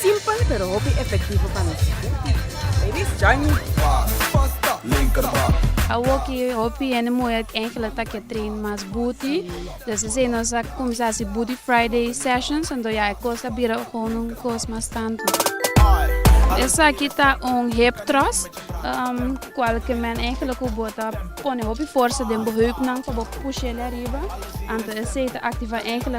Simpel pero hopi efektivo pa nos. Ladies, join me! Paas, pasta, linkerbak. Awoki hopi hende muhé kende lo ta ke train mas buti, dus esei nos a kuminsá hasi Booty Friday Sessions, anto ya e kos a bira gou un kos mas tantu. Esaki ta un hip thrust, kual ke men ejemplo ku bo ta pone hopi forsa den bo heupnan pa bo push'é lei ariba, anto esei ta aktivá ejemplo.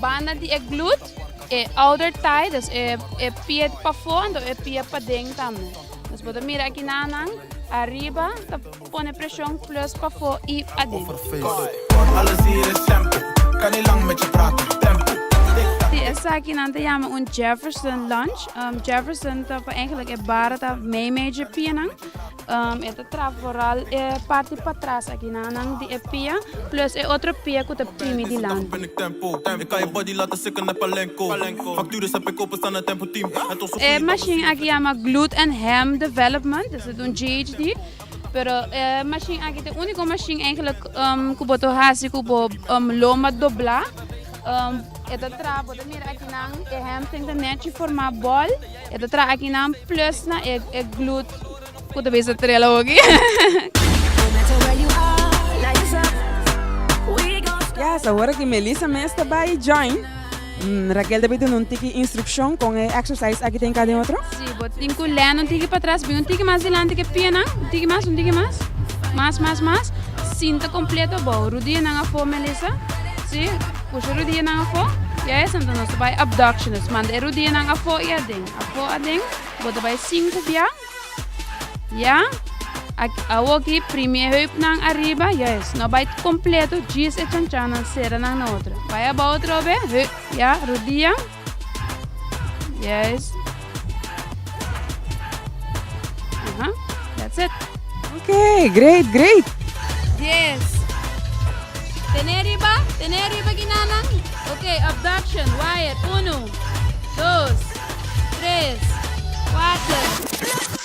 Banda di e glut, e outer thigh, dus e e pie pafó anto e pie paden tambe. Nos por ta mira aki na nan, ariba ta pone preshon plus pafó i aden. Di esaki nan ta yama un Jefferson lunge. Jefferson ta pa eigenlijk e bara ta meimei dje pienan. E ta traha foral e parti patras aki na nan di e pia plus e otro pia ku ta primi dilanti. E mashin aki yama Glut and Ham Development, esei ta un GHD, pero e mashin aki ta e uniko mashin eigentlik ku bo ta hasi ku bo loma dobla. E ta traha, bo ta mira aki nan e hemstring ta nechi forma bòl. E ta traha aki nan plus na e e glut ku ta bisa trela hogi. Yes, awor aki Melissa mes ta bai join. Mm, Raquel ta bai duna un tiki instruccion con e exercise aki den cada otro. Si, bo tin ku lèn un tiki pa tras, bin un tiki mas dilanti ke pienan, un tiki mas, un tiki mas, mas, mas, mas, sinta kompleto, bo rudianan afó Melissa, si. Pusha rudianan afó i a esan ta nos ta bai abduction nos manda e rudianan afó i aden afó aden bo ta bai sinku bian ya awor ki primie heupnan ariba ya es no bai completo djis e chanchannan sera nan na otro bai abao atrobe heup ya rudian Yes. Aha, that's it. Ok, great, great. Yes. Tené riba, tené riba ginanan. Ok, abduction, wire, uno, dos, tres, cuater.